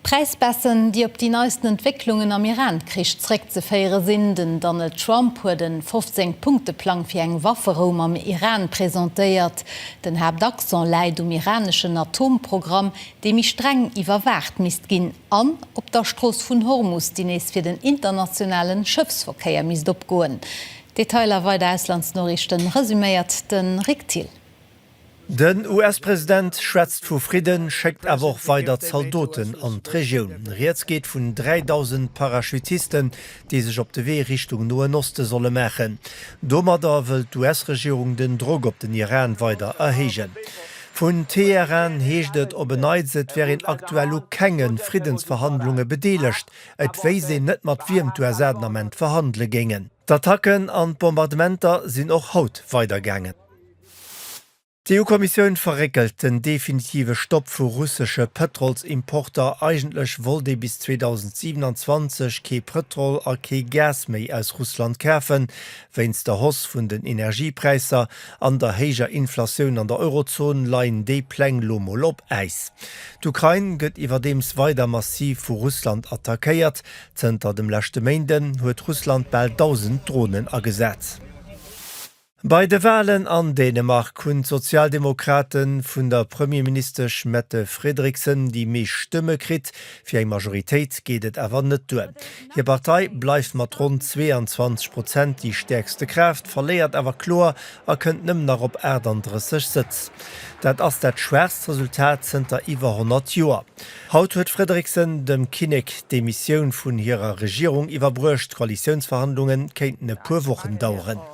D'Präisbaisse, déi op déi neisten Entwécklungen am Iran-Krich zeréckzeféiere sinn. Den Donald Trump huet e 15 Punkte-Plang fir eng Wafferou mam Iran presentéiert. Den Haaptaccent läit um iraneschen Atomprogramm, dee méi streng iwwerwaacht misst ginn, an op der Strooss vun Hormus, déi nees fir den internationale Schëffsverkéier misst opgoen. D'Detailer, weider Auslandsnoriichten, resuméiert de Rik Thill. Den US-President schwätzt vu Fridden, schéckt awer och weider Zaldoten an d'Regioun. Rieds geet vun 3.000 Parachutisten, déi sech op de Wee Richtung Noen Oste solle maachen. Domadder wëll d'US-Regierung den Drock op den Iran weider erhéijen. Vun Teheran heescht et op en Neits, et wär een aktuell u kenge Friddensverhandlunge bedeelegt. Et wéisst een net, mat wiem d'USA den Ament verhandele géingen. D'Attacken an d'Bombardementer sinn och haut weidergaangen. D'EU-Kommissioun verréckelt den definitive Stopp vu russesche Pëtrolsimporter. Eigentlech wollt ee bis 2027 kee Pëtrol a kee Gas méi aus Russland kafen. Wéinst der Hausse vun den Energiepräisser an der héijer Inflatioun an der Eurozon leien déi Pläng lo mol op Äis. D'Ukrain gëtt iwwerdeems weider massiv vu Russland attackéiert. Zënter dem leschte Méinden huet Russland bal 1.000 Dronen agesat. Bei de Walen an Dänemark hunn d'Sozialdemokrate vun der Premierministesch Mette Frederiksen déi meescht Stëmme kritt. Fir eng Majoritéit geet et awer net duer. Hir Partei bleift mat ronn 22 Prozent déi stäerkste Kraaft, verléiert awer kloer a kënnt nëmmen nach op 38 Sëtz. Dat ass dat schwaachst Resultat zënter iwwer 100 Joer. Haut huet d'Frederiksen dem Kinnek d'Demissioun vun hirer Regierung iwwerbruecht. D'Koalitiounsverhandlunge kéinten e puer Wochen daueren.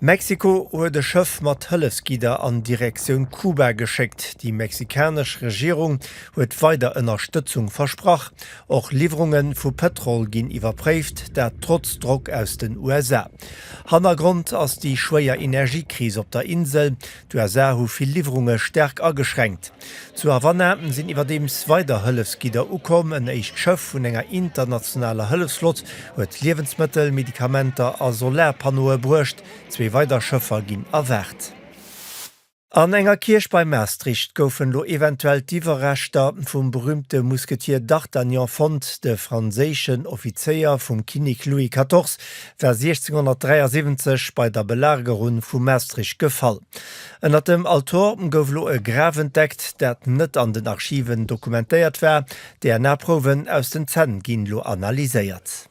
Mexiko huet e Schëff mat Hëllefsgidder an Direktioun Kuba geschéckt. Déi mexikanesch Regierung huet weider Ënnerstëtzung versprach. Och Liwwerunge vu Pëtrol ginn iwwerpréift, dat trotz Drock aus den USA. Hannergrond ass déi schwéier Energiekris op der Insel. D'USA hu vill Liwwerunge staark ageschränkt. Zu Havanna sinn iwwerdeems weider Hëllefsgidder ukomm. En éischt Schëff vun enger internationaler Hëllefsflott huet Liewensmëttel, Medikamenter a Solarpannoe bruecht. Zwee weider Schëffer ginn erwaart. An enger Kierch bei Maastricht goufen elo eventuell d'Iwwerreschter vum berüümte Musketier d'Artagnan fonnt. De franséischen Offizéier vum Kinnek Louis 14 war 1673 bei der Belagerun vu Maastricht gefall. Ënnert dem Altor gouf lo e Graf entdeckt, dat net an den Archiven dokumentéiert war. DNA-Prouwen aus den Zänn ginn lo analyséiert.